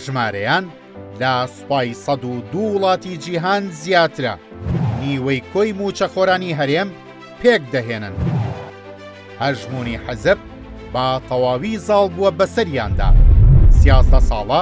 ژمارەیان لە سوپای سەد و دوو وڵاتی جیهان زیاترە نیوەی کۆی موچەخۆرانی هەرێم پێک دەهێنن هەژمونی حەزب با تەواوی زاڵ بووە بەسەریاندا سیازدە ساڵە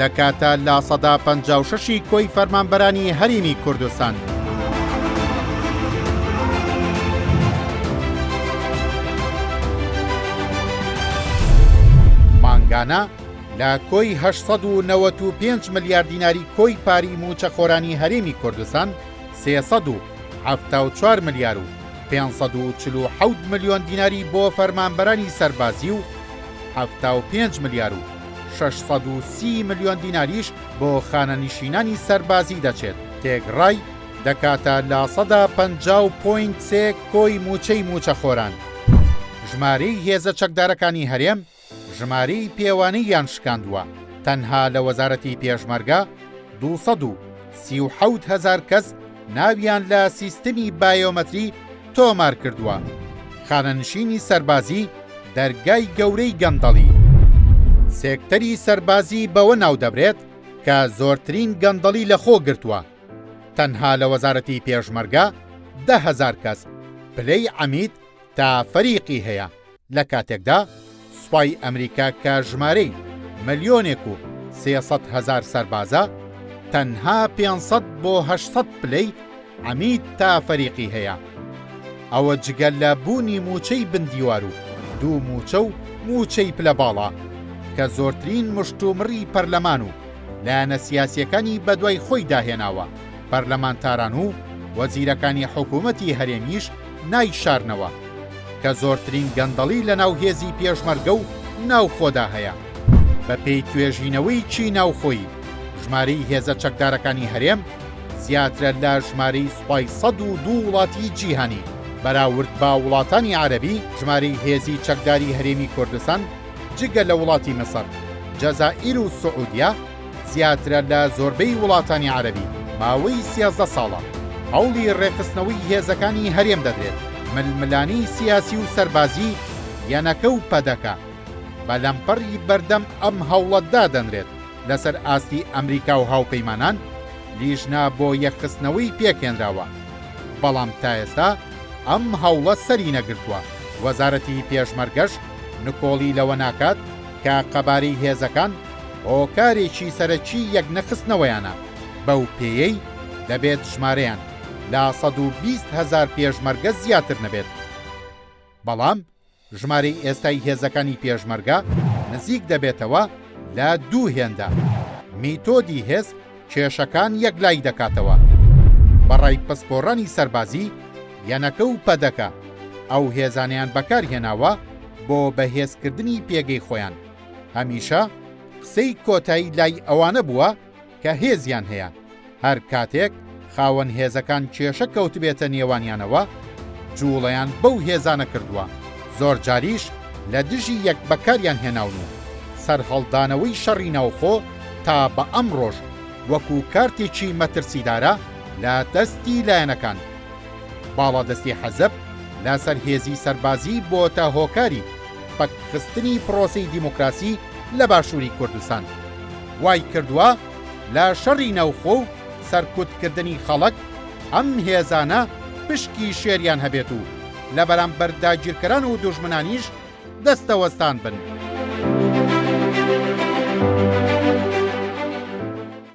دەکاتە لە سەدا پەنجا و شەشی کۆی فەرمانبەرانی هەریمی کوردستان. مانگانە لە کۆی 1995 ملیار دیناری کۆی پاری موچەخۆرانی هەرێمی کوردستان 374 ملیار و 547 ملیۆن دیناری بۆ فەرمانبەرانی سەربازی و 75 ملیار و شەش سەد و سی ملیۆن دیناریش بۆ خانەنیشینانی سەربازی دەچێت، تێگڕای دەکاتە لە سەدا پەنجا و پۆینت سێ کۆی مووچەی مووچەخۆران. ژمارەی هێزە چەکدارەکانی هەرێم ژمارەی پێوانەییان شکاندووە، تەنها لە وەزارەتی پێشمەرگە دوو سەد و سی و حەوت هەزار کەس ناویان لە سیستمی بایۆمەتری تۆمار کردووە، خانەنشینی سەربازی دەرگای گەورەی گەندەڵی. سێکتەری سەربازی بەوە ناودەبرێت کە زۆرترین گەندەڵی لەخۆ گرتووە، تەنها لە وەزارەتی پێشمەرگە دە هەزار کەس پلەی عەمید تا فەریقی هەیە، لە کاتێکدا سوپای ئەمریکا کە ژمارەی ملیۆنێک و سێ سەد هەزار سەربازە، تەنها پێنج سەد بۆ هەشت سەد پلەی عەمید تا فەریقی هەیە. ئەوە جگە لە بوونی مووچەی بن دیوار و دوو مووچە و مووچەی پلە باڵا کە زۆرترین مشتومڕی پەرلەمان و لایەنە سیاسییەکانی بەدوای خۆیدا هێناوە، پەرلەمانتاران و وەزیرەکانی حکوومەتی هەرێمیش نایشارنەوە، کە زۆرترین گەندەڵی لەناو هێزی پێشمەرگە و ناوخۆدا هەیە. بەپێی توێژینەوەیکی ناوخۆیی، ژمارەی هێزە چەکدارەکانی هەرێم زیاترە لە ژمارەی سوپای سەد و دوو وڵاتی جیهانی، بەراورد بە وڵاتانی عەرەبی ژمارەی هێزی چەکداری هەرێمی کوردستان جگە لە وڵاتی میسر، جەزائیر و سعودیە، زیاترە لە زۆربەی وڵاتانی عەرەبی ماوەی سیازدە ساڵە هەوڵی ڕێکخستنەوەی هێزەکانی هەرێم دەدرێت، ململانی سیاسی و سەربازی یەنەکە و پەدەکە بە لەمپەڕی بەردەم ئەم هەوڵە دادەنرێت، لەسەر ئاستی ئەمریکا و هاوپەیمانان لیژنە بۆ یەکخستنەوەی پێکهێنراوە، بەڵام تا ئێستا ئەم هەوڵە سەرینەگرتووە، وەزارەتی پێشمەرگەش نکۆڵی لەوە ناکات، کە قەبارەی هێزەکان هۆکارێکی سەرەکی یەکنەخستنەوەیانە، بەو پێیەی دەبێت ژمارەیان لە سەد و بیست هەزار پێشمەرگە زیاتر نەبێت. بەڵام ژمارەی ئێستای هێزەکانی پێشمەرگە نزیک دەبێتەوە لە دوو هێندە. میتۆدی هێز کێشەکان یەکلایی دەکاتەوە. بە ڕای پسپۆڕانی سەربازی، یەنەکە و پەدەکە ئەو هێزانەیان بەکارهێناوە بۆ بەهێزکردنی پێگەی خۆیان، هەمیشە قسەی کۆتایی لای ئەوانە بووە کە هێزیان هەیە، هەر کاتێک خاوەن هێزەکان کێشە کەوتبێتە نێوانیانەوە، جووڵەیان بەو هێزانە کردووە، زۆرجاریش لە دژی یەک بەکاریان هێناون و سەرهەڵدانەوەی شەڕی ناوخۆ تا بە ئەمڕۆش وەکو کارتێکی مەترسیدارە لە دەستی لایەنەکان. باڵادەستی حەزەب لەسەر هێزی سەربازی بۆتە هۆکاری پەکخستنی پرۆسەی دیموکراسی لە باشووری کوردستان. وای کردووە لە شەڕی ناوخۆ و سەرکوتکردنی خەڵک ئەم هێزانە پشکی شێریان هەبێت و لە بەرامبەر داگیرکەران و دوژمنانیش دەستەوەستان بن.